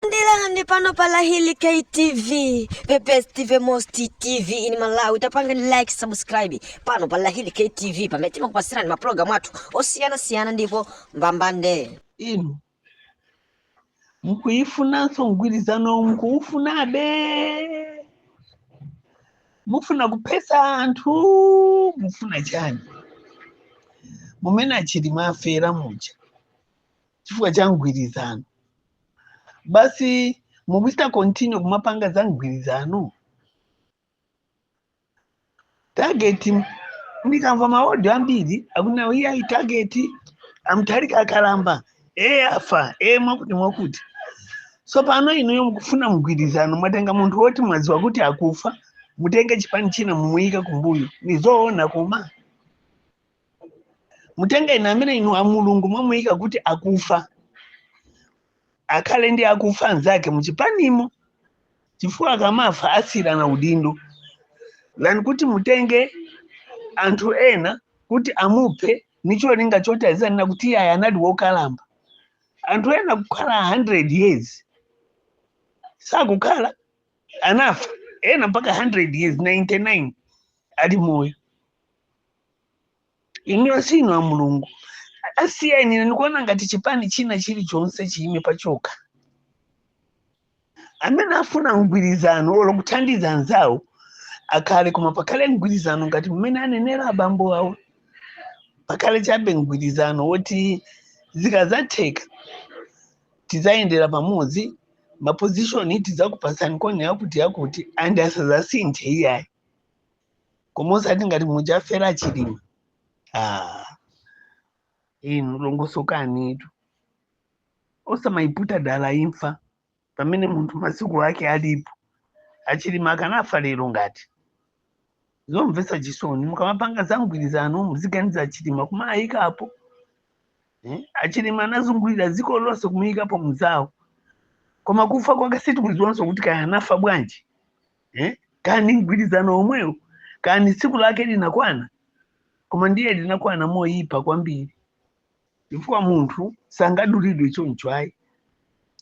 Ndilandi pano pa Lahili K TV, the best TV, most TV in Malawi. Tapangani like, subscribe pano pa Lahili K TV. Pamene timakupasirani maprogramu athu osiyana siyana ndipo mbambande. inu mukuyifunanso mgwirizano mukuwufunabe mufuna kuphesa anthu mufuna chani mumene a Chilima afera muja chifukwa cha mgwirizano basi mukuchita continue kumapanga za mgwirizano target ndikamva maodio ambiri akunena iyayi target a Mutharika akalamba eye afa eye mwakuti mwakuti so pano inuyo mukufuna mgwirizano mwatenga munthu woti mwaziwa kuti akufa mutenge chipani china mumuyika kumbuyo ni zoona koma mutenge ena amene inu a Mulungu mwamuyika kuti akufa akhale ndi akufa anzake muchipanimo chifukwa akamafa asiyirana udindo than kuti mutenge anthu ena kuti amuphe nicholinga choti azanena kuti iyayi anali wokalamba anthu ena kukhala 100 years sakukhala anafa ena mpaka 100 years 99 ali moyo inuyo si inu a Mulungu asiyeni iwo ndikuona ngati chipani china chilichonse chiyime pachokha amene afuna mgwirizano olo kuthandiza anzawo akhale koma pakhale mgwirizano ngati mmene anenera abambo awo pakhale chabe mgwirizano woti zikazatheka tizayendera pamodzi mapozishoni tizakupasani kone yakuti yakuti andi asazasinthe iyayi koma osati ngati muja afera a Chilima ah. inu longosokanitu osamayiputa dala imfa pamene munthu masiku ake alipo a Chilima akanafa lero ngati zomvetsa chisoni mukamapanga za mgwirizano muziganiza a Chilima kumayikapo eh? a Chilima anazungulira dziko lonse kumuyikapo mzawo koma kufa kwake sitikudziwanso kuti kaya anafa bwanji eh? kani mgwirizano omwewo kani tsiku lake linakwana koma ndiye linakwana moyipa kwambiri chifukwa munthu sangadulidwe choncho ayi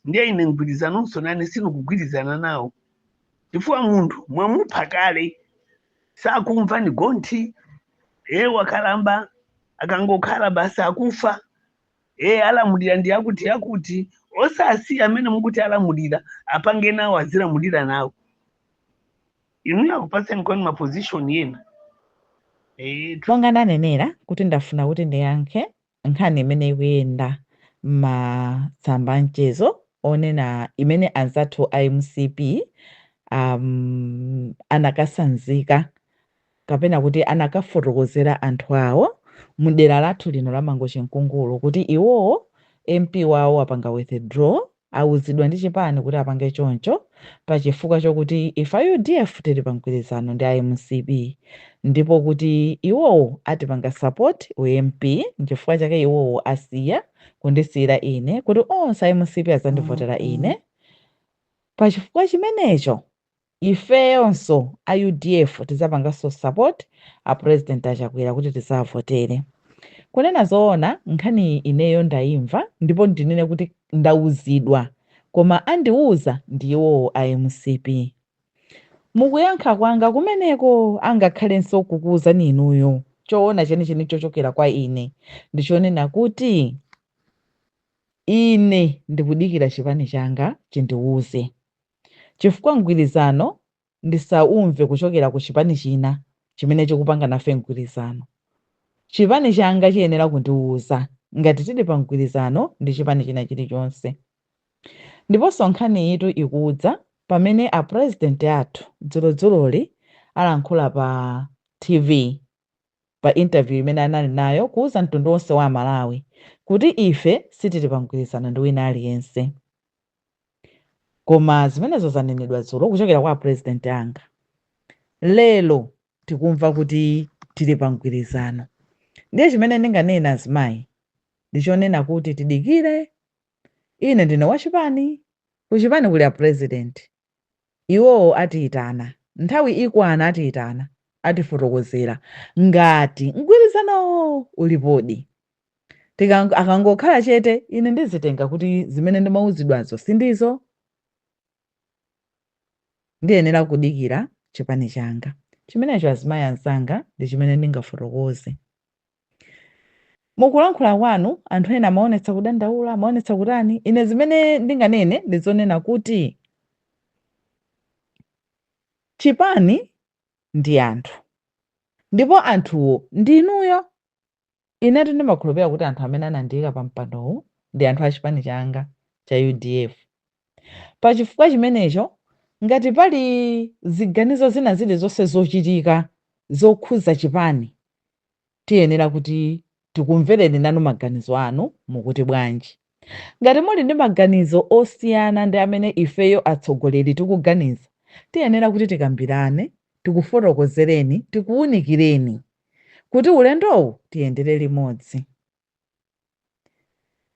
ndiye ine mgwirizanonso nane sindikugwirizana nawo chifukwa munthu mwamupha kale sakumva ni gonthi e wakalamba akangokhala basi akufa ee alamulira ndi akuti akuti osasiya amene mukuti alamulira apange nawo azilamulira nawo inuyo akupatseniko ni maposition yena ee tu- monga ndanenera kuti ndafuna kuti ndiyankhe nkhani imene ikuyenda m'matsamba amchezo onena imene anzathu a mcp um, anakasanzika kapena kuti anakafotokozera anthu awo mdera lathu lino la Mangochi Nkungulu kuti iwowo MP wawo apanga withdraw awuzidwa ndi chipani kuti apange choncho pa chifukwa chokuti ife a udf tili pa mgwirizano ndi a mcp ndipo kuti iwowo atipanga support u MP nchifukwa chake iwowo asiya kundisiyira ine kuti onse a mcp azandivotera ine pa chifukwa chimenecho Ifeyonso a udf tizapanganso support a president a Chakwera kuti tizawavotere. Kunena zoona nkhaniyi ineyo ndaimva ndipo ndinene kuti ndauzidwa koma andiuza ndi iwowo a mcp. Mukuyankha kwanga kumeneko angakhalenso kukuuzani inuyo choona chenicheni chochokera kwa ine ndi chonena kuti ine ndikudikira chipani changa chindiuze. chifukwa mgwirizano ndisaumve kuchokera ku chipani china chimene chikupanga nafe mgwirizano. Chipani changa chiyenera kundiuza ngati tili pa mgwirizano ndi chipani china chilichonse. Ndiponso nkhaniyitu ikudza pamene a president athu dzulodzuloli alankhula pa TV pa interview imene anali nayo kuuza mtundu wonse wa amalawi kuti ife sitili pa mgwirizano ndi wina aliyense koma zimenezo zanenedwa dzulo kuchokera kwa apresident anga lero tikumva kuti tili pa mgwirizano ndiye chimene ndinganena azimayi ndichonena kuti tidikire ine ndine wachipani kuchipani kuli apresident Iwowo atiitana. Nthawi ikwana atiitana, atifotokozera. Ngati mgwirizanowo ulipodi. Tikango, akangokhala chete, ine ndizitenga kuti zimene ndimauzidwazo sindizo. Ndiyenera kudikira chipani changa. Chimenecho azimayi anzanga ndi chimene ndingafotokoze. Mu kulankhula kwanu, anthu ena amaonetsa kudandaula, amaonetsa kutani. Ine zimene ndinganene ndi zonena kuti chipani ndi anthu ndipo anthuwo ndi inuyo. Inetu ndimakhulupirira kuti anthu amene anandiika pa mpandowu ndi anthu a chipani changa cha udf. Pa chifukwa chimenecho, ngati pali ziganizo zina zilizonse zochitika zokhuza chipani, Tiyenera kuti tikumvereni nanu maganizo anu. Mukuti bwanji? Ngati muli ndi maganizo osiyana ndi amene ifeyo atsogoleri tikuganiza, tiyenera kuti tikambirane, tikufotokozereni, tikuwunikireni kuti ulendowu tiyendere limodzi.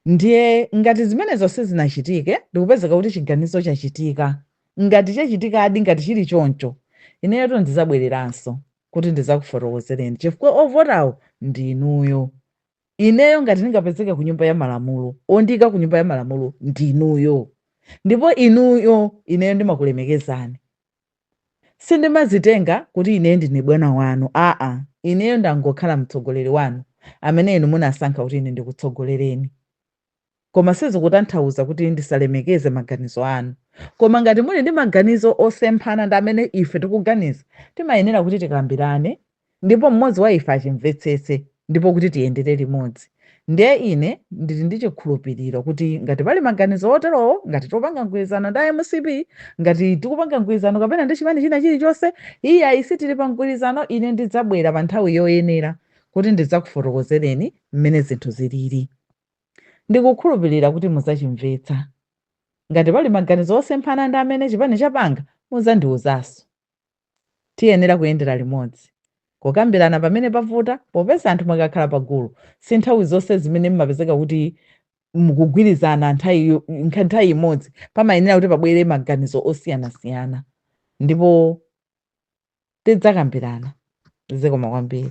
Ndiye, ngati zimenezo sizinachitike, ndi kupezeka kuti chiganizo chachitika, ngati chachitikadi, ngati chiri choncho, ineyotu ndidzabwereranso kuti ndidzakufotokozereni, chifukwa ovotawo ndi inuyo. Ineyo ngati ndingapezeke ku Nyumba ya Malamulo, wondiika ku Nyumba ya Malamulo ndi inuyo. Ndipo inuyo, ineyo ndimakulemekezani. Sindimadzitenga kuti ineyo ndine bwana wanu, aa, ineyo ndangokhala mtsogoleri wanu amene inu munasankha kuti ine ndikutsogolereni. Koma sizikutanthauza kuti ndisalemekeze maganizo anu. Koma ngati muli ndi maganizo osemphana ndi amene ife tikuganiza, timayenera kuti tikambirane ndipo mmodzi wa ife achimvetsetse, ndipo kuti tiyendere limodzi. Ndiye ine ndiri ndi chikhulupiriro kuti ngati pali maganizo oterowo, ngati tikupanga mgwirizano ndi mcp, ngati tikupanga mgwirizano kapena ndi chipani china chirichonse, iyayi sitiri pa mgwirizano, ine ndidzabwera pa nthawi yoyenera kuti ndidzakufotokozereni mmene zinthu ziriri. Ndikukhulupirira kuti mudzachimvetsa. Ngati pali maganizo osemphana ndi amene chipani chapanga, mudzandiuzanso. Tiyenera kuyendera limodzi. Kukambirana pamene pavuta, popeza anthu mukakhala pa gulu, si nthawi zonse zimene m'mapezeka kuti mukugwirizana ntha nthawi imodzi. Pamayenera kuti pabwere maganizo osiyanasiyana ndipo tidzakambirana. Zikomo kwambiri.